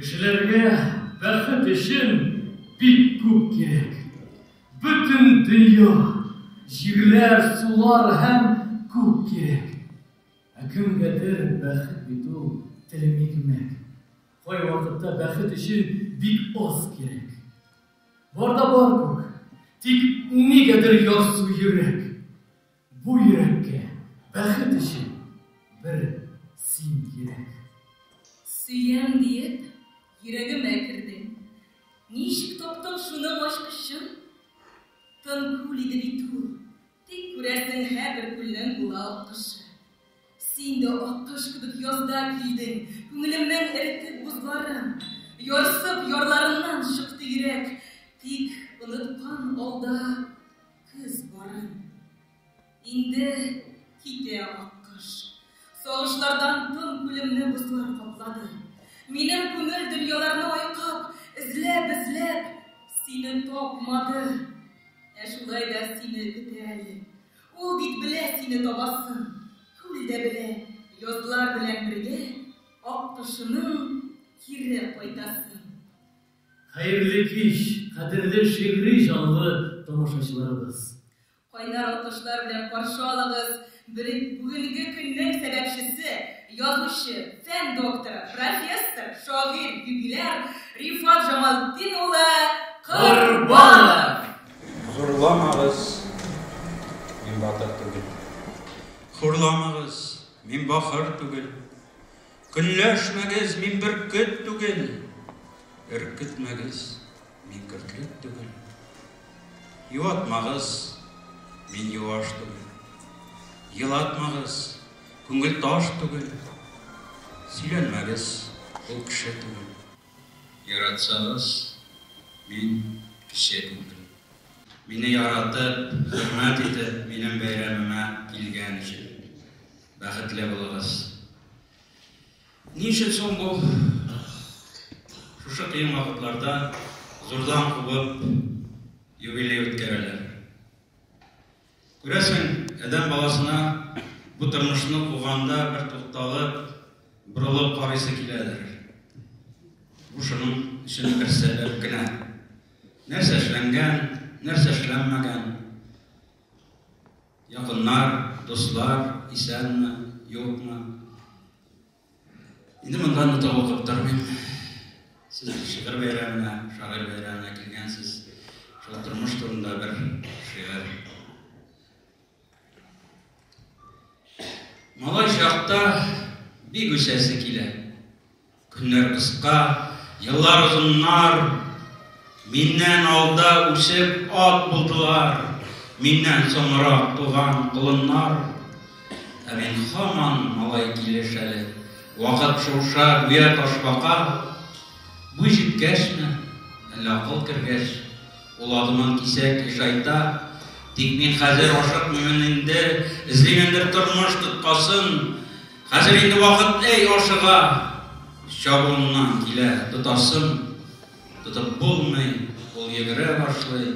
Кешеләргә бәхет өчен бик күп кирәк. Бөтен дөнья, җирләр, сулар һәм күк кирәк. Ә кемгәдер бәхет бит ул телем икмәк. Кайвакытта бәхет өчен бик аз кирәк. Бар да бар күк. Тик нигәдер ярсу йөрәк. Бу йөрәккә бәхет өчен бер син кирәк. Сөям диеп, йөрәгемә кердең. Ничек таптың шуның ачкычын? Тын күл иде бит ул. Тик күрәсең, һәрбер күлнең була аккышы. Син дә аккош кебек язда килдең, Күңелемнең эретеп бозларын. Ярсып, ярларымнан чыкты йөрәк, Тик оныткан алда көз барын. Инде китә аккош. Сагышлардан тын күлемне Бозлар каплады. Минем күңел дөньяларны айкап, Эзләп, эзләп, сине тапмады. Ә шулай да сине көтә әле. Ул бит белә сине табасын, күл дә белә, язлар белән бергә Аккошының кире кайтасын. Хәерле кич, кадерле шигъри җанлы тамашачыларыбыз! Кайнар алкышлар белән каршы алыгыз бүгенге көннең сәбәпчесе, язучы, фән докторы, профессор, шагыйрь, юбиляр Рифат Җамалтдин улы Корбанов! Зурламагыз, мин батыр түгел. Хурламагыз, мин бахыр түгел. Көнләшмәгез, мин бөркет түгел. Өркетмәгез, мин көртлек түгел. Юатмагыз, мин юаш түгел. Елатмагыз, күңел таш түгел. Сөйләнмәгез, ул кеше түгел. Яратсагыз, мин кеше түгел. Мине яратып, хөрмәт итеп, минем бәйрәмемә килгән өчен бәхетле булыгыз. Ни өчен соң бу шушы кыен вакытларда зурдан кубып юбилей үткәрәләр? Күрәсең, адәм баласына бу тормышны куганда бер тукталып, борылып карыйсы киләдер. Бу шуның өчен бер сәбәп кенә. Нәрсә эшләнгән, нәрсә эшләнмәгән, якыннар, дуслар исәнме, юкмы? Инде монда да тавыкып тормыйм. Сез шигырь бәйрәменә, шагыйрь бәйрәменә килгәнсез. Шул тормыш турында бер шигырь. Малай чакта бик үсәсе килә. Көннәр кыска, еллар озыннар. Миннән алда үсеп ат булдылар. Миннән соңрак туган колыннар. Ә мин хаман малай килеш әле. Вакыт шуша, гүя ташбака. Буй җиткәчме, әллә акыл кергәч, ул адымын кисәк ешайта. Тик мин хәзер ашыкмыймын инде, эзлимендер тормыш тоткасын. Хәзер инде вакыт әй ашыга, чабуымнан килә тотасым. Тотып булмый, ул йөгерә башлый.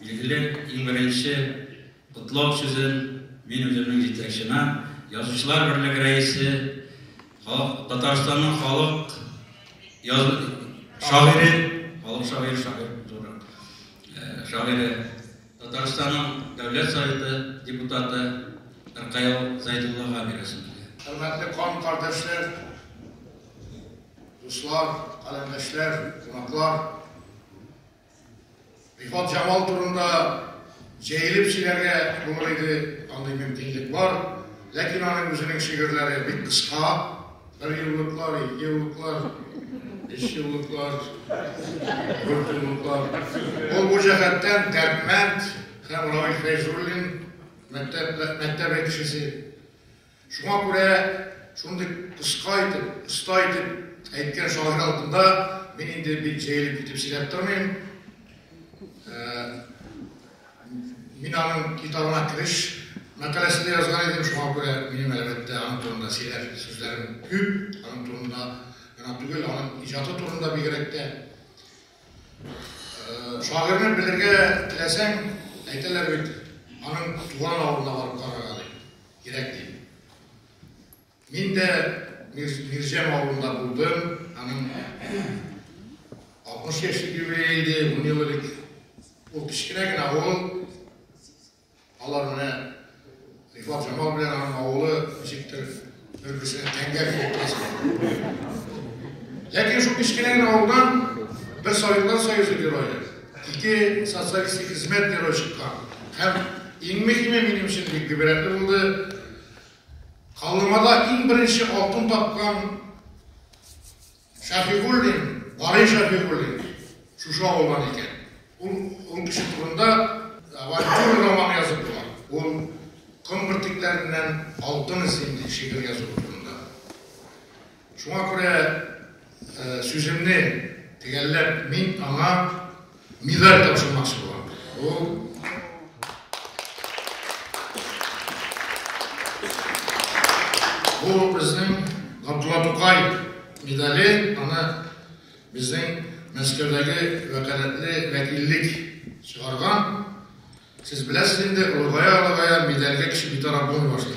Игелек, иң беренче котлау сүзен мин үземнең җитәкчемә, Язучылар берлеге рәисе, Татарстанның халык шагыйре, халык шагыйре, шагыйрь зуррак, шагыйре, Татарстанның Дәүләт Советы депутаты Ркаил Зәйдуллага бирәсем килә. Хөрмәтле кан кардәшләр, дуслар, каләмдәшләр, кунаклар! Илфат Җамал турында җәелеп сөйләргә булыр иде, андый мөмкинлек бар. Ләкин аның үзенең шигырьләре бик кыска, бер еллыклар, ике еллыклар, өч еллыклар, дүрт еллыклар. Ул бу җәһәттән Дәрдмәнд һәм Равил Фәйзуллин мәктәбе кешесе. Шуңа күрә шундый кыска итеп, оста итеп әйткән шагыйрь алдында мин инде бик җәелеп китеп сөйләп тормыйм. Мин аның китабына кереш мәкаләсендә язган идем, шуңа күрә минем әлбәттә аның турында сөйләр сүзләрем күп, аның турында гына түгел, аның иҗаты турында бигрәк тә. Шагыйрьне белергә теләсәң, әйтәләр бит, аның туган авылына барып карарга ди. кирәк дип. Мин дә Мирҗәм авылында булдым, аның 60 яшь юбилее иде, 10 ел элек. Ул кечкенә генә авыл, алар менә Рифат Жамал белән аның авылы ничектер бер-берсенә тәңгәл килеп Ләкин шул кечкенә генә авылдан бер Советлар Союзы герое Ике социалистик хезмәт герое чыккан. Һәм иң мөһиме, минем өчен бик гыйбрәтле булды, Каллымада иң беренче алтын тапкан Шәфигуллин, Барый Шәфигуллин шушы авылдан икән. Ул ул кеше турында авантюра романы язып була. Ул ком бөртекләреннән алтын эзлим, ди шигырь язуы турында. Шуңа күрә сүземне төгәлләп, мин аңа медаль тапшырмакчы булам. Ул Бу безнең Габдулла Тукай медале, аны безнең Мәскәүдәге вәкаләтле вәкиллек чыгарган. Сез беләсез инде, олыгая-олыгая медальгә кеше битараф булмый башлый.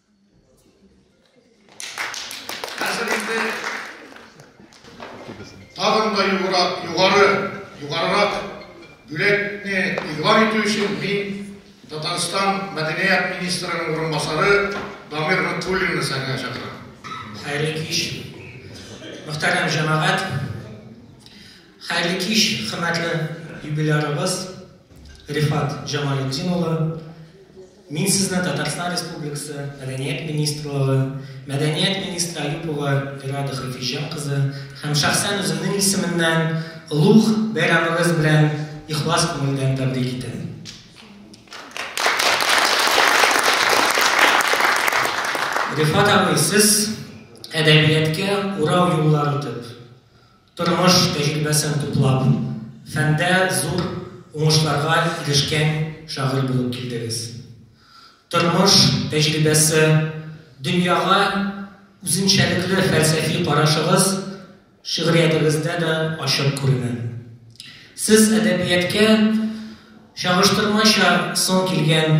Хәзер инде тагын да югарырак, югары, югарырак бүләкне игълан итү өчен мин Татарстан мәдәният министрының урынбасары Дамир Нутуллинны сәхнәгә чакырам. Хәерле кич. Мөхтәрәм җәмәгать. Хәерле кич, хөрмәтле юбилярыбыз Рифат Җамалетдин улы. Мин сезне Татарстан Республикасы Мәдәният министрлыгы, мәдәният министры Аюпова Ирада Хафизҗан кызы һәм шәхсән үземнең исеменнән олуг бәйрәмегез белән ихлас күңелдән тәбрик итәм. Рифат абый, сез әдәбияткә урау юллар үтеп, Тормыш тәҗрибәсен туплап, фәндә зур уңышларга ирешкән шагыйрь булып килдегез. Тормыш тәҗрибәсе, дөньяга үзенчәлекле фәлсәфи карашыгыз шигъриятегездә дә ачык күренә. Сез әдәбияткә чагыштырмача соң килгән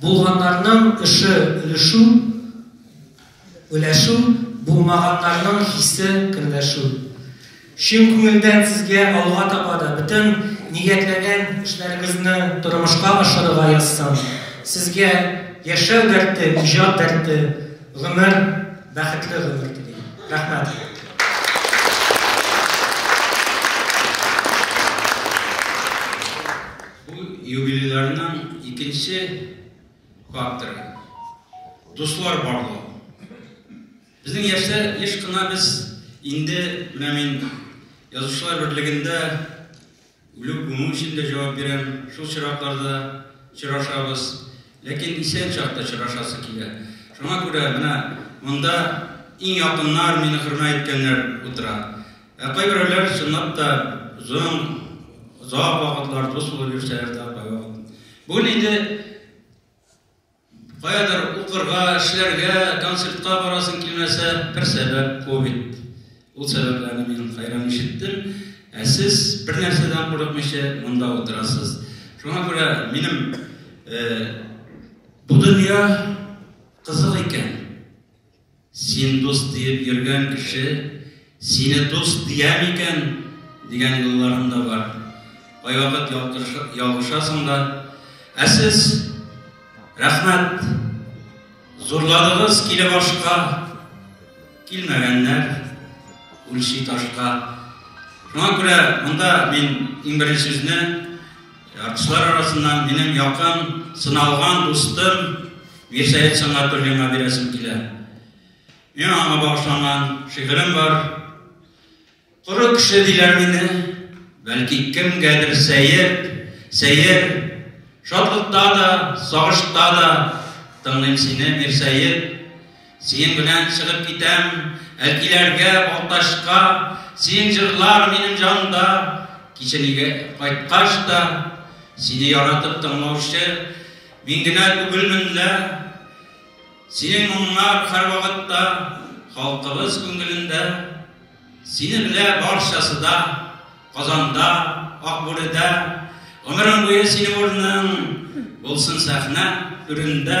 Булганнарның эше өлешу, өләшү, булмаганнарның хисе керләшү. Чын күңелдән сезгә алга таба да бөтен ниятләгән эшләрегезне тормышка ашырырга язсын. Сезгә яшәү дәрте, иҗат дәрте, гомер, бәхетле гомер телим. Рәхмәт. Бу юбилейларның икенче факторы, дуслар барлыгы. Безнең яшьләр еш кына без инде менә мин язучылар берлегендә үлү күмү өчен дә җавап бирәм. Шул чиракларда чырашабыз. Ләкин исән чакта чырашасы килә. Шуңа күрә менә монда иң якыннар, мине хөрмә иткәннәр утыра. Ә кайберәүләр чынлап та озын, озак вакытлар дус булып йөрсәләр дә кайвакыт. Бүген инде каядыр укырга, эшләргә, концертка барасың килмәсә, бер сәбәп ковид. Ул сәбәпләрне мин кайран ишеттем. Ә сез бер нәрсәдән курыкмыйча монда утырасыз. Шуңа күрә минем э, бу дөнья кызык икән. Син дус диеп йөргән кеше сине дус дия микән? дигән юлларым да бар. Кайвакыт ялгышасың да. Ә сез рәхмәт. Зурладыгыз киле башка. Килмәгәннәр үлчи ташка. Шуңа күрә монда мин иң беренче сүзне Артистлар арасыннан минем якын, сыналган дустым Мирсәет Сәнгатуллинга бирәсем килә. Мин аңа багышланган шигырем бар. Коры кеше диләр мине, бәлки кемгәдер сәер, сәер. Шатлыкта да, сагышта да тыңлыйм сине, Мирсәет. Синең белән чыгып китәм Әлкиләргә, Балтачка, Синең җырлар минем җанда, Кичен өйгә кайткач та, Сине яратып тыңлаучы Мин генә түгелмен лә. Синең моңнар һәрвакытта Халкыбыз күңелендә. Сине белә барчасы да, Казанда, Акбүредә. Гомерең буе синең урның Булсын сәхнә түрендә.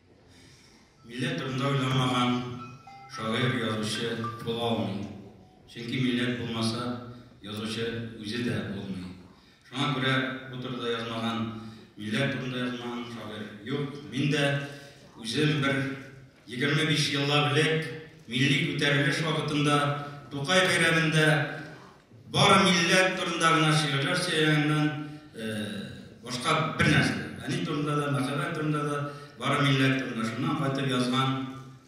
Милләт турында уйламаган шагыйрь, язучы була алмый. Чөнки милләт булмаса, язучы үзе дә булмый. Шуңа күрә бу турыда язмаган, милләт турында язмаган шагыйрь юк. Мин дә үзем бер 25 еллап элек милли күтәрелеш вакытында Тукай бәйрәмендә Бар милләт турында гына шигырьләр сөйләгәннән башка бер нәрсә. Әни турында да, мәхәббәт турында да, бар милләт турында шуннан кайтып язган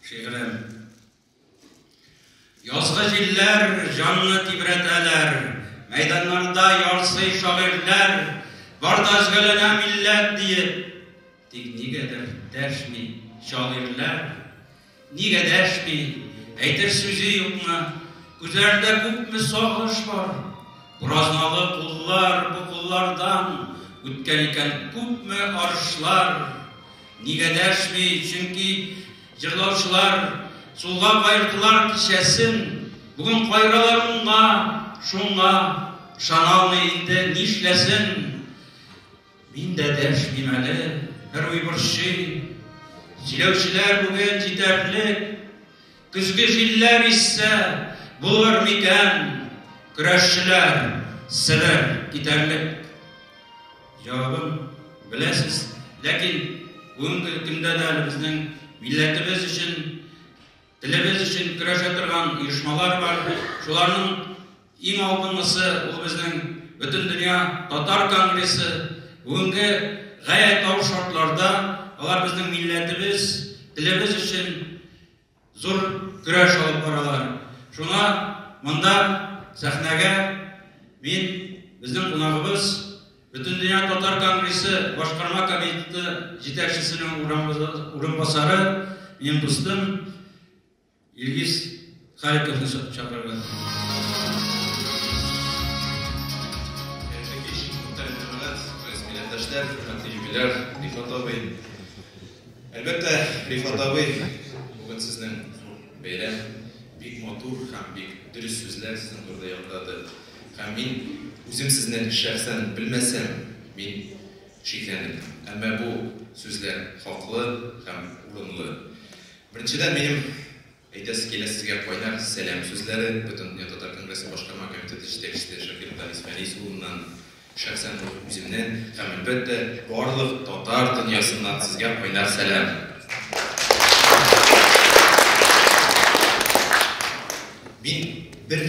шигырем. Язгы җилләр җанны тибрәтәләр, мәйданнарда ярсый шагыйрьләр, бар да өзгәләнә милләт диеп. Тик нигәдер дәшми шагыйрьләр. Нигә дәшми, әйтер сүзе юкмы? Күзләрдә күпме сагыш бар. Буразналы куллар, бу куллардан үткән икән күпме арышлар. Нигә дәшми, чөнки җырлаучылар сулга каердылар кичәсен. Бүген кайралар уңга, шуңа, ышаналмый инде нишләсен. Мин дә дәшмим әле, Кыруй борчый. Сөйләүчеләр бүген җитәрлек. Көзге җилләр иссә, булыр микән? Көрәшчеләр, себер, китәрлек. Җавабын беләсез, ләкин бүгенге көндә дә әле безнең милләтебез өчен Телебез өчен көрәшә торган оешмалар бар. Шуларның иң алдынгысы, ул безнең Бөтендөнья татар конгрессы. Бүгенге гаять авыр шартларда алар безнең милләтебез, телебез өчен зур көрәш алып баралар. Шуңа монда сәхнәгә мин безнең кунагыбыз, Бөтендөнья татар конгрессы башкарма комитеты җитәкчесенең урынбасары, минем дустым Илгиз Халиковны чакырды. Хөрмәтле килүче, хөрмәтле юбиляр, Рифат абый. Әлбәттә, Рифат абый, бүген сезнең бәйрәм бик матур һәм бик дөрес сүзләр сезнең турыда яңгырады. Һәм мин үзем сезне шәхсән белмәсәм, мин шикләнәм. Әмма бу сүзләр хаклы һәм урынлы. Беренчедән, минем әйтәсе килә сезгә кайнар сәлам сүзләре Бөтендөнья татар конгрессы башкарма комитеты җитәкчесе Шакир Талис Фәнис улыннан. Шәхсән үз үземнен һәм әлбәттә барлык татар дөньясыннан сезгә кайнар сәлам. Мин бер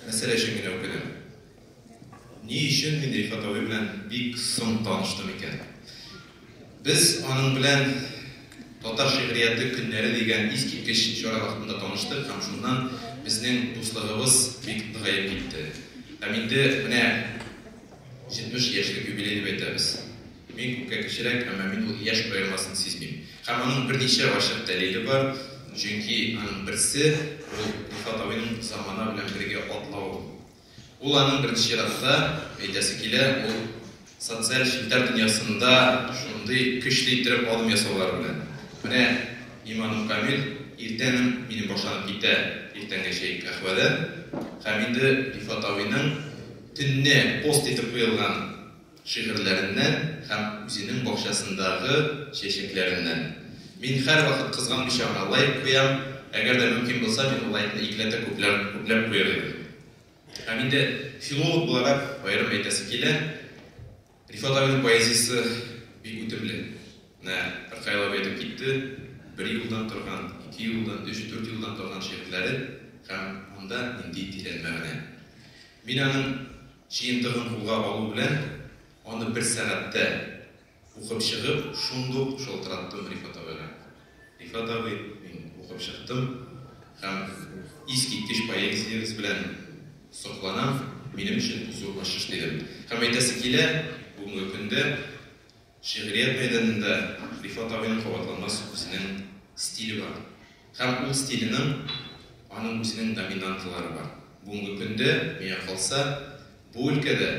мәсьәлә өчен генә үкенәм. Ни өчен мин Рифат абый белән бик соң таныштым икән? Без аның белән Татар шигърияте көннәре дигән искиткеч чара вакытында таныштык һәм шуннан безнең дуслыгыбыз бик ныгаеп китте. Һәм инде менә 70 яшьлек юбилей дип әйтәбез. Мин күпкә кечерәк, әмма мин ул яшь аермасын сизмим. Һәм аның берничә ачык дәлиле бар, чөнки аның берсе, ул Илфат абыйның замана белән бергә атлавы. Ул аның беренче чиратта, әйтәсе килә, ул социаль челтәр дөньясында шундый көчле иттереп адым ясаулары белән. Менә иманым камил, иртәнем минем башланып китә иртәнге чәй каһвәдә. Һәм инде Рифат абыйның төнне пост итеп куелган, шигырьләреннән һәм үзенең бакчасындагы чәчәкләреннән. Мин һәрвакыт кызганмыйча гына лайк куям, әгәр дә мөмкин булса, мин ул лайкны икеләтә күпләп, күпләп куяр идем. Һәм инде филолог буларак аерым әйтәсе килә, Рифат абыйның поэзиясе бик үтемле. Менә Ркаил абый әйтеп китте, бер юлдан торган, ике юлдан, өч, дүрт юлдан торган шигырьләре һәм анда нинди тирән мәгънә. Мин аның Җыентыгын кулга алу белән, аны бер сәгатьтә укып чыгып, шундук шалтыраттым Рифат абыйга. Рифат абый, мин укып чыктым һәм искиткеч поэзиягез белән сокланам, минем өчен бу зур ачыш, дидем. Һәм әйтәсе килә, бүгенге көндә. Шигърият мәйданында Рифат абыйның кабатланмас үзенең стиле бар. Һәм ул стиленең аның үзенең доминанталары бар. Бүгенге көндә, миңа калса, бу өлкәдә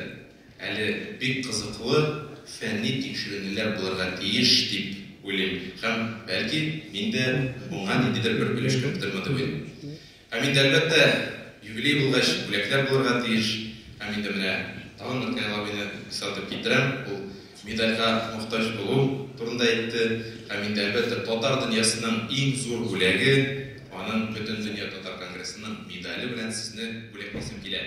әле бик кызыклы фәнни тикшеренүләр булырга тиеш дип уйлыйм. Һәм, бәлки, мин дә моңа ниндидер бер өлеш керттермы дип уйлыйм. Һәм инде, әлбәттә, юбилей булгач, бүләкләр булырга тиеш. Һәм инде менә тагын бер тәңгәлабыйны искәртеп китерәм, ул медальгә мохтаҗ булу турында әйтте. Һәм инде, әлбәттә, татар дөньясының иң зур бүләге, аның Бөтендөнья татар конгрессының медале белән сезне бүләклисем килә.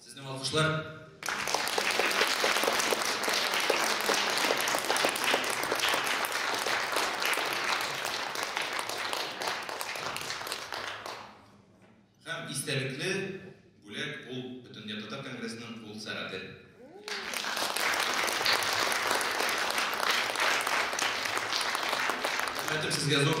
Сезнең алкышлар. Һәм истәлекле бүләк ул бөтендөнья татар конгрессының кул сәгате. Хәтер сезгә зур.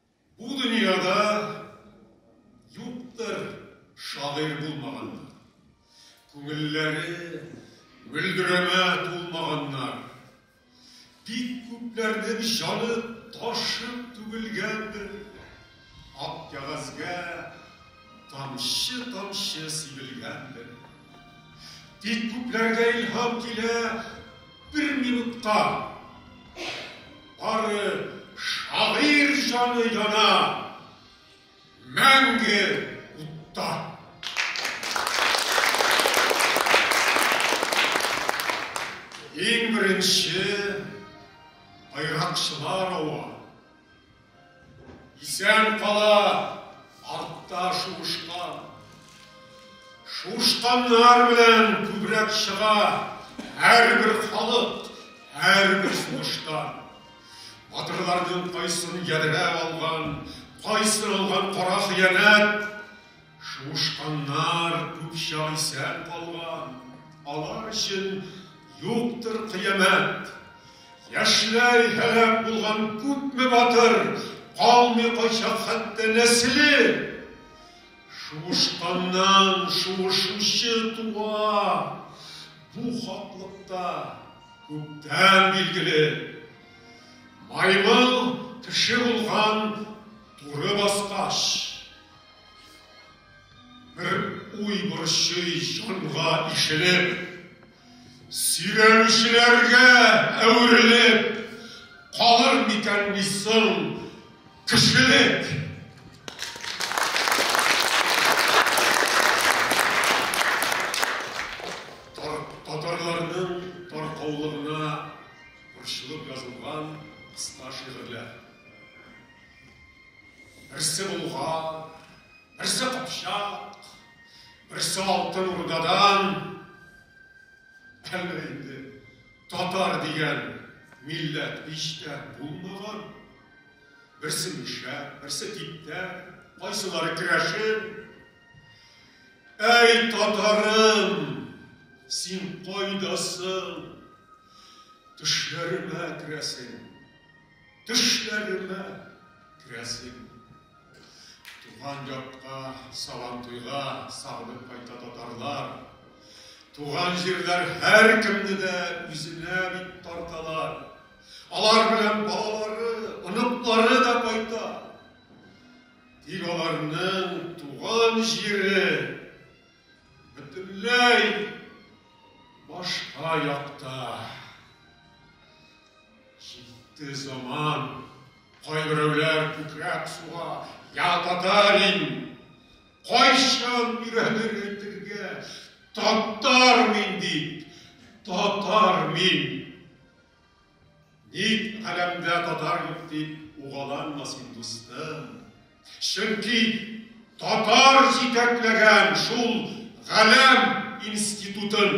Бу дөньяда юктыр шагыйрь булмаганнар, күңелләре мөлдерәмә тулмаганнар. Бик күпләрнең җаны ташып түгелгәндер, ак кәгазьгә тамчы-тамчы сибелгәндер. Бик күпләргә илһам килә бер минутка. Бары шагыйрь җаны яна мәңге утта. Иң беренче, байракчылар ава. Исән кала, артта шуышкан. Шуышканнар белән күбрәк чыга һәрбер халык, һәрбер сугышта. Батырларның кайсын ядрә алган, кайсын алган кара хыянәт. Шуышканнар күп чак исән калган, алар өчен юктыр кыямәт. Яшьләй һәлак булган күпме батыр, калмый кайчак хәтта нәселе. Шуышканнан шуышучы туа, бу хаклыкта күптән билгеле. Маймыл кеше булган туры баскач. Бер уй борчый җанга ишелеп, Сөйләүчеләргә әверелеп, Калыр микән ни соң кешелек? Татарларның таркаулыгына борчылып язылган кыска шигырьләр. Берсе булган, берсе капчак, берсе алтын урдадан. Әллә инде татар дигән милләт иштә булмаган. Берсе мишә, берсе типтә, кайсылары керәшен. Әй, татарым, син кайдасың? Төшләремә керәсең. Төшләремә керәсең. Туган якка Сабантуйга сагынып кайта татарлар. Туган җирләр һәркемне дә үзенә бит тарталар. Алар белән балалары, оныклары да кайта. Тик аларның туган җире бөтенләй башка якта. Җитте заман, кайберәүләр күкрәк суга, я татарин! Кайчан өйрәнер әйтергә, татар мин дип, татар мин! Ник галәмдә татар юк дип угаланма син, дустым. Чөнки татар җитәкләгән шул галәм институтын.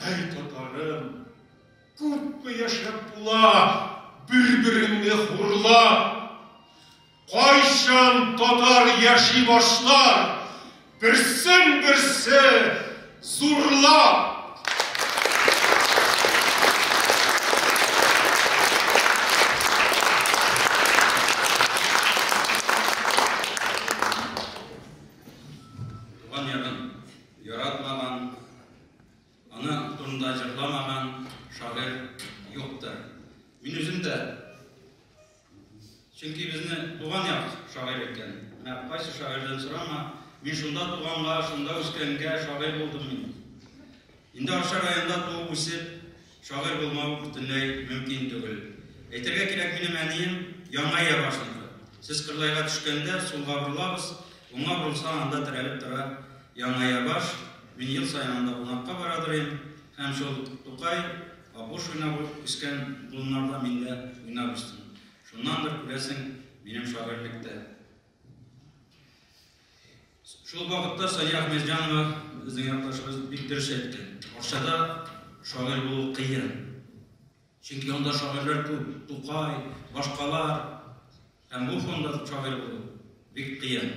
Әй татарым, күпме яшәп була бер-береңне хурлап? Кайчан татар яши башлар берсен-берсе зурлап? Туган ягым, Яратмаган, аның турында җырламаган шагыйрь юктыр. Мин үзем дә, чөнки безне туган як шагыйрь иткән. Менә кайсы шагыйрьдән сорама, мин шунда туганга, шунда үскәнгә шагыйрь булдым мин. Инде Арча районында туып үсеп, Шагыйрь булмау бөтенләй мөмкин түгел. Әйтергә кирәк, минем әнием яңа йә башында. Сез кырлайга төшкәндә, сулга борылабыз, уңга борылсаң, анда терәлеп тора яңа йә баш. Мин ел саен анда кунакка бара торыйм. Һәм шул Тукай, Апуш уйнап үскән болыннарда мин дә уйнап үстем. Шуннандыр, күрәсең, минем шагыйрьлек тә Шул вакытта Сания Ахмеджанова безнең якташыбыз бик дөрес әйтте. Арчада шагыйрь булу кыен. Чөнки анда шагыйрьләр күп, Тукай, башкалар. Һәм бу фонда шагыйрь булу бик кыен.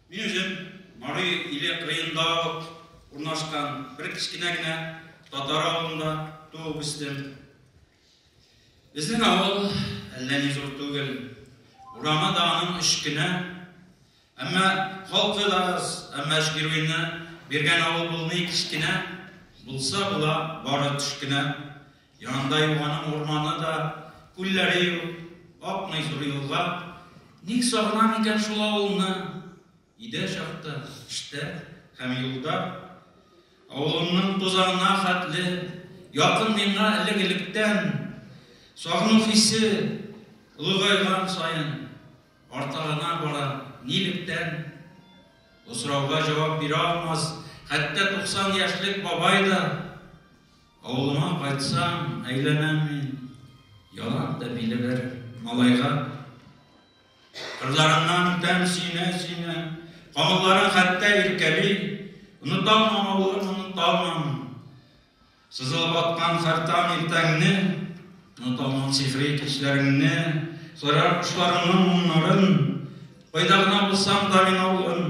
Мин үзем Мари иле кырыенда ук урнашкан бер кечкенә генә татар авылында туып үстем. Безнең авыл әллә ни зур түгел. Урамы да аның өч кенә. Әмма халкы да аз, әмма Шгируйны биргән авыл булмый кечкенә, булса була бары төш кенә. Янында елганың урманы да, күлләре юк, акмый зур елга. Ник сагынам икән шул авылны? Өйдә чакта, эштә һәм юлда. Авылымның тузанына хәтле, якын миңа элек-электән. Сагыну хисе олыгайган саен арта гына бара. Нилектән? Бу сорауга җавап бирә алмас, хәтта 90 яшьлек бабай да. Авылыма кайтсам, әйләнәм мин, Ялан да биле бер малайга. Кырларыннан үтәм сөенә-сөенә, Камылларын хәтта иркәли. Оныталмам, авылым, оныталмам, Сызылып аткан хәртам иртәңне, Оныталмам сихри кичләреңне, Сайрар кошларыңның моңнарын. Кайда гына булсам да мин, авылым,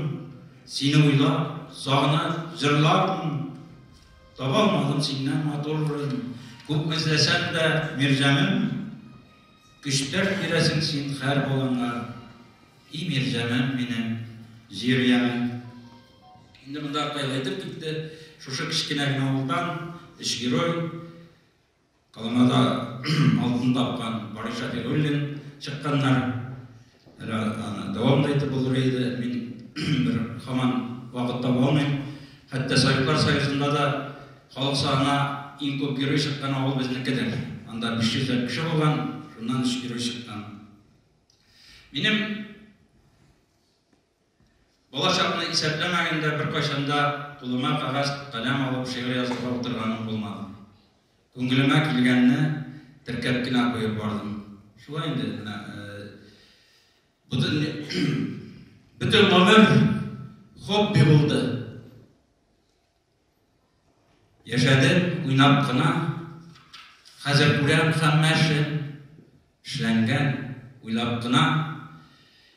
Сине уйлап, сагынып, җырлармын. Таба алмадым синнән матурын, Күп эзләсәм дә, Мирҗаным, Көчтәр бирәсең син хәр болынга, И Мирҗаным минем, Җирҗаным. Инде монда Кытай әйтеп китте, шушы кечкенә генә авылдан өч герой, Алаңада алтын тапкан Барый Шәфигуллин чыкканнар. Әле аны дәвам да итеп булыр иде. Мин бер хаман вакыт таба алмыйм. Хәтта Советлар Союзында да халык санына иң күп герой чыккан авыл безнекедер. Анда 500 ләп кеше булган, шуннан өч герой чыккан. Минем Балачакны исәпләмәгәндә беркайчан да кулыма кәгазь, каләм алып шигырь язырга утырганым булмады. Күңелемә килгәнне теркәп кенә куеп бардым. Шулай инде, менә бөтен гомер хобби булды. Яшәдем уйнап кына, хәзер күрәм хәммәше эшләнгән, уйлап кына.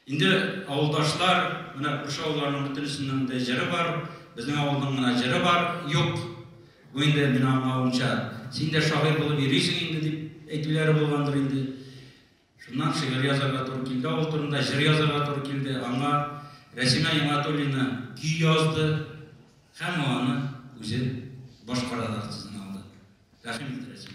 Инде авылдашлар, менә күрше авылларның бөтенесенең дә җыры бар, безнең авылның гына җыры бар, юк. Бу инде мин аңлавымча, син дә шагыйрь булып йөрисең инде дип әйтүләре булгандыр инде. Шуннан шигырь язарга туры килде, авыл турында җыр язарга туры килде. Аңа Рәсимә Яматуллина көй язды һәм аны үзе башкарады артистына алды. Рәхим ит, Рәсим.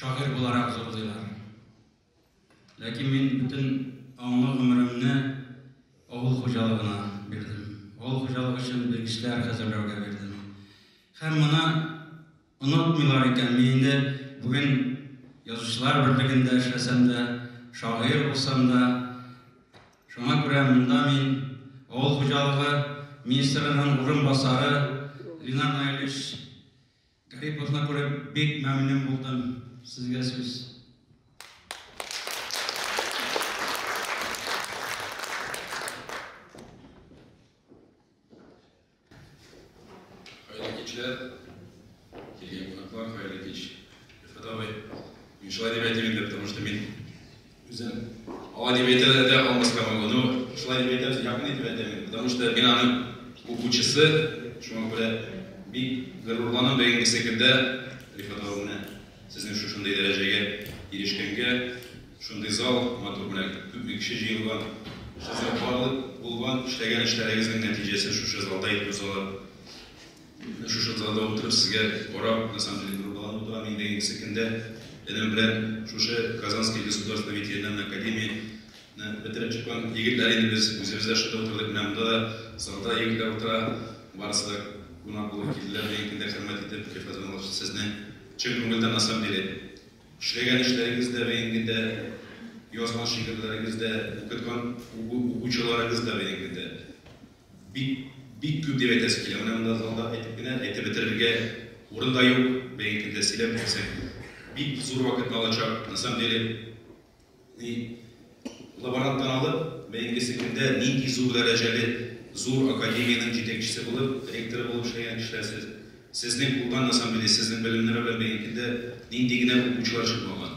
Шагыйрь буларак зурлыйлар. Ләкин мин бөтен аңлы гомеремне авыл хуҗалыгына бирдем. Авыл хуҗалыгы өчен белгечләр әзерләүгә бирдем. Һәм моны онытмыйлар икән, мин инде бүген язучылар берлегендә эшләсәм дә, шагыйрь булсам да, шуңа күрә монда мин авыл хуҗалыгы министрының урынбасары Ленар Наилевич Клипыгызны күреп бик мәмнүн булдым. Сезгә сүз. Хәерле кичләр. Килгән кунаклар, хәерле кич. Рифат абый, мин шулай дип әйтим инде, потому что мин Үзем алай дип әйтәләр дә алмаска могу, но шулай дип әйтәбез, якын итеп әйтәмен, потому что мин аның укучысы, шуңа күрә бик горурланам бүгенгесе көндә Рифат абый менә сезнең шушындый дәрәҗәгә ирешкәнгә, шундый зал матур белән күпме кеше җыелган, сезнең барлык булган эшләгән эшләрегезнең нәтиҗәсе шушы залда итеп узалар. Шушы залда утырып сезгә карап, на самом деле, горурланып утырам. Инде ингесе көндә энем белән шушы Казанский государственный ветеринарный академияне бетереп чыккан егетләр инде без. Үзебез дә шунда утырдык. Менә монда да залда егетләр утыра. Барысы да кунак булып килделәр бүгенге көндә хөрмәт итеп. Илфат Рамазанович, сезне чын күңелдән на самом деле эшләгән эшләрегез дә бүгенге көндә, язган шигырьләрегез дә, укыткан укучыларыгыз да бүгенге көндә, Бик, бик күп дип әйтәсе килә. Менә монда залда әйтеп кенә, әйтеп бетерергә урын да юк. Бәйге көндә сөйләп бетерсәң, бик зур вакытны алачак. На самом деле, ни лаборанттан алып, бәйгесе көндә нинди зур дәрәҗәле зур академиянең җитәкчесе булып, ректоры булып эшләгән кешеләр сез. Сезнең кулдан, на самом деле, сезнең белемнәр белән бәйге көндә нинди генә укучылар чыкмаган.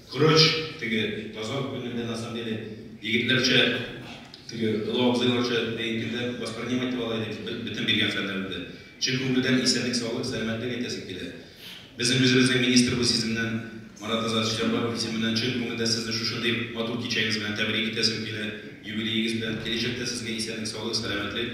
Короче, теге Казан күлендә на самом деле егетләрчә, теге олы абзыйларча бәетүдә воспринимать итеп ала идек бөтен биргән фәннәребездә. Чын күңелдән исәнлек саулык, сәламәтлек әйтәсем килә. Безнең үзебезнең министр бу сиземнән Марат Азат Җәббаров исеменнән чын күңелдән сезне шушындый матур кичәгез белән тәбрик итәсем килә, юбилеегыз белән. Киләчәктә сезгә исәнлек саулык, сәламәтлек.